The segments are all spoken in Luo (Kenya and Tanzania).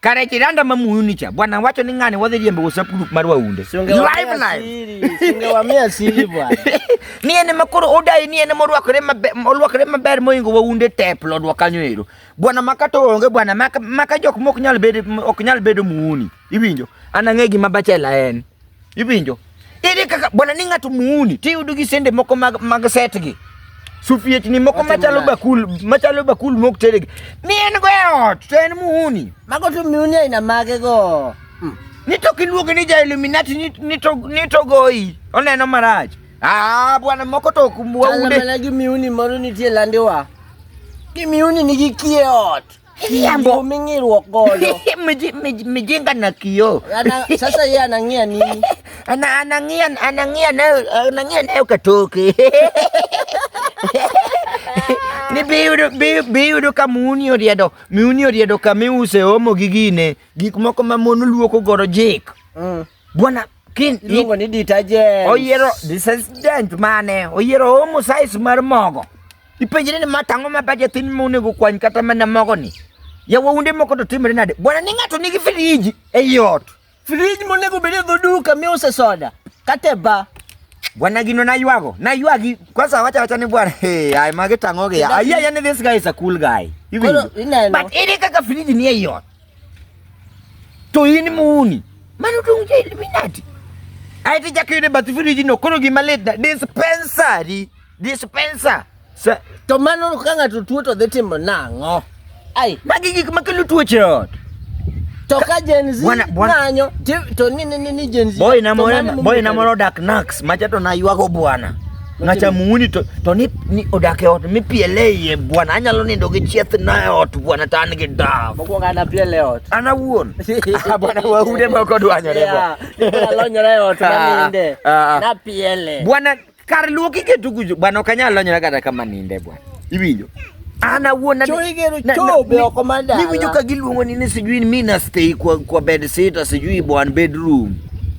Kare kiranda mamuyuni cha bwana wacho ni ng'ani wadhi riembo WhatsApp group mar waunde. Live live. Sunge wa mia siri bwana. Ni ene makoro odai ni ene morwakore maber olwakore maber moingo waunde tep lodwa kanyo ero. Bwana makato onge bwana maka, maka jok mok nyal bedo ok nyal bedo muuni. Iwinjo? Anang'egi mabachela en. Iwinjo? Ere kaka bwana ni ng'ato muuni tiyudo gi sende moko mag, mag set gi sufiechni moko machalo bakul machalo bakul mok teregi ni en go e ot to en muuni mago to miuni aina mage go hmm. ni to kiluonge ni ja illuminati ni, ni, to, ni to goyi oneno marach ah bwana moko to ok waude mana gi miuni moro nitie landiwa gi miuni nigi kie ot Kiambo. Umingirwa goyo. Mji- mji- Mjinga na kioo. Ana, sasa yeye anang'ia nini? Ana- Anang'ia anang'ia nayo anang'ia nayo katoke. Ni biyudo bi- biyudo ka muni oriedo muni oriedo kama iuse omo gi gine gik moko ma mon luoko godo jik. Mm. Bwana King iluongo ni detergent. Oyiero detergent mane? Oyiero omo size mar mogo. Ipenjri ni ma tang'o ma budget in monego kwany kata mana mogo ni. Ya waunde moko to timre nade? Bwana ni ng'ato nigi friji e yot. Friji monego bede dho duka mi use soda. Kate ba. Bwana gino na ywago. Na ywagi. Kwa sawa wacha wacha ni bwana. Hey, ai magi tang'o gi. Ai ya ni this guy is a cool guy. But ini kaka friji ni e yot. to in muni mano dong ja Illuminati ae ti chako yude bath firiji no koro gima lit na dispensary dispenser Sa- to mano ka ng'ato tuo to dhi timo nang'o ai magi gik makelo tuoche ot to ka Gen Z Bwana- bwana- ng'anyo ti- to ni ni ni- ni Gen Z boy to na mano moro ma- boy na moro dak nax macha to na ywago bwana Ng'acha muuni to, to ni, ni odak e ot mipiele iye bwana, anyalo nindo gi chieth na e ot bwana, to an gi daf. Mokwongo an apiele e ot. An awuon. Ah, bwana waude moko dwanyore bwana. Alonyore e ot maninde. Ah, ah, ah. Napiele. Bwana kar luoki ketu kujo bwana, ok anyal lonyora kata kama ninde bwana. Iwinjo? An awuon na niwinjo ka giluongo ni ni sijui mi na stay kwa, kwa bed sitter sijui bwana bedroom.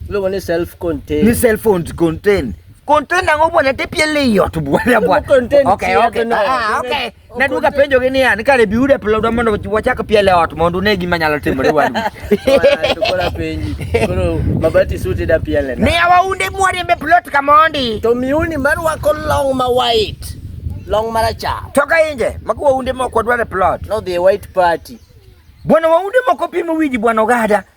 Luongo ni self contained. Ni self contained. Content ang'o bwana tepiele iot bwana bwana. Content okay, okay. No. Ah, okay. Na duka penjo gini ya nikare biude pelo do mondo wachak piele ot mondo ne gima nyalo timore wan. Tukora penji. Koro mabati suti da piele. Ne awaunde mwari mbe plot kamondi. To miuni mar wako long ma white. Long marachar. Toka inje, mako waunde moko dware plot. No the white party. Bwana waunde moko pimo wiji bwana ogada.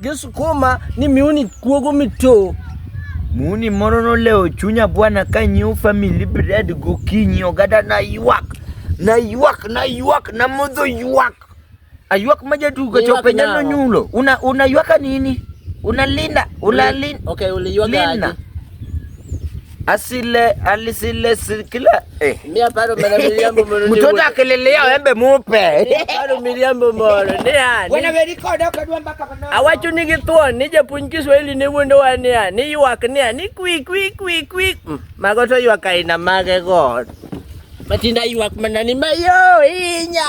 Gisukuma ni miuni kuogo mito. Muni moro nolewo chunya bwana ka nyiew family bread gokinyi ogada na ywak. Na ywak, na ywak, na modho ywak. Aywak ma jatugo chope nyalo nyulo. Una una ywaka nini? Unalinda, unalinda. Okay, uliywaka aje. asile alisile sikila eh. mia paro mana miriambo mono mtoto akilelea wembe mupe mia paro miriambo mono ni ani wana verikoda kadwa mbaka bana awacho ni githuon ni japuonj Kiswahili ne wuondo wa ni ani ni ywak ni ani kwi kwi kwi kwi mm, mago to ywak aina mage god matinda ywak mana ni mayo inya